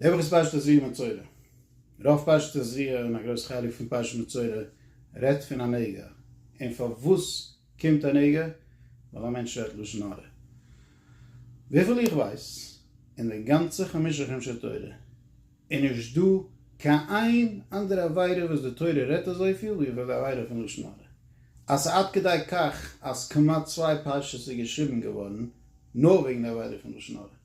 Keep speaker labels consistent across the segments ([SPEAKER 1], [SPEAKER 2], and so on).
[SPEAKER 1] די וואך איז פרשת זרוע מצורע. רוב פרשת זרוע און א גרויס חלק פון פרשת מצורע רעדט פון א נגע. און פארוואס קומט א נגע? ווייל א מענטש רעדט לשון הרע. וויפיל איך ווייס, אין די גאנצע חמשה חומשי תורה איז נישט דא קיין איין אנדערע עבירה וואס די תורה רעדט אזויפיל ווי איבער די עבירה פון לשון הרע. אז ס'איז עד כדי כך אז כמעט צוויי פרשות איז געשריבן געווארן נאר וועגן די עבירה פון לשון הרע.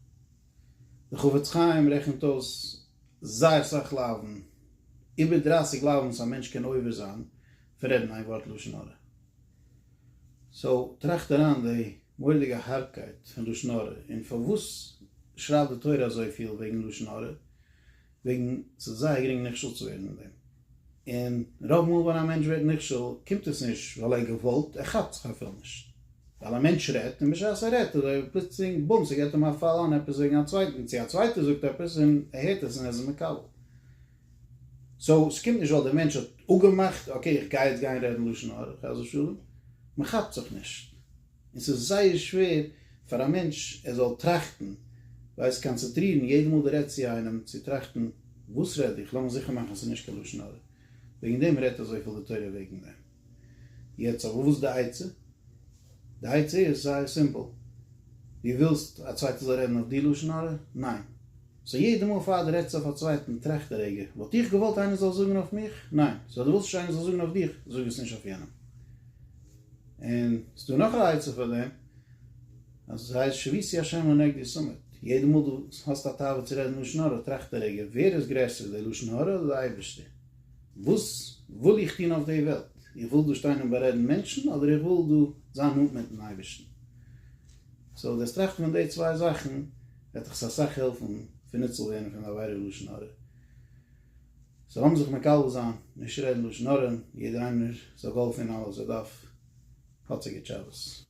[SPEAKER 1] דער חפץ חיים רעכנט אויס זייער סאך לאוו'ן, איבער דרייסיג לאוו'ן וואס א מענטש קען עובר זיין פון רעדן איין ווארט לשון הרע. סאו טראכט אריין די מורא'דיגע הארבקייט פון לשון הרע און פארוואס שרייבט די תורה אזויפיל וועגן לשון הרע, וועגן ס'איז זייער גרינג נכשל צו ווערן אין דעם. און רוב מאל ווען א מענטש ווערט נכשל קומט עס נישט ווייל ער געוואלט, ער כאפט זיך אפילו נישט. ווייל א מענטש רעדט און בשעת ער רעדט אזוי פלוצלינג בום ס'געט אים א פאל איין עפעס וועגן א צווייטן צו א צווייטער זאגט עפעס און ער הערט עס און ער איז מקבל. סאו ס'קומט נישט ווייל דער מענטש האט אפגעמאכט אקעי איך גיי יעצט גיין רעדן לשון הרע חס ושלום, מ'כאפט זיך נישט. און ס'איז זייער שווער פאר א מענטש ער זאל טראכטן, ווייס קאנצעטרירן יעדע מאל דו רעדסט צו איינעם צו טראכטן וואס רעד איך, לאמיך זיכער מאכן אז ס'איז נישט קיין לשון הרע, וועגן דעם רעדט אזויפיל די תורה וועגן דעם. יעצט אבער וואס איז די עצה? די עצה איז זייער סימפל, דו ווילסט א צווייטער זאל רעדן אויף דיר לשון הרע? ניין. סאו יעדע מאל פאר דו רעדסט אויף א צווייטן טראכט א רגע, וואלט איך געוואלט איינער זאל זאגן אויף מיך? ניין. סאו אז דו ווילסט נישט איינער זאל זאגן אויף דיך, זאג עס נישט אויף יענעם. און ס'איז דא נאך א עצה פאר דעם, אז עס הייסט שביתי השם לנגד די סומעט, יעדע מאל דו האסט א תאווה צו רעדן לשון הרע, טראכט א רגע, ווער איז גרעסער, די לשון הרע אדער די אייבערשטער? וואס וויל איך טון אויף די וועלט? איך וויל דא שטיין און בארעדן מענטשן, אדער איך וויל דא זיין נאנט מיט'ן אייבערשטן? סאו דאס טראכטן פון די צוויי זאכן וועט דיך אסאך העלפן פון ניצול ווערן פון די עבירה לשון הרע. זיי האבן זיך מקבל זיין, נישט רעדן לשון הרע, יעדער איינער זאל גאלפען אלעס ער דארף, האט זיי געטשעלעס.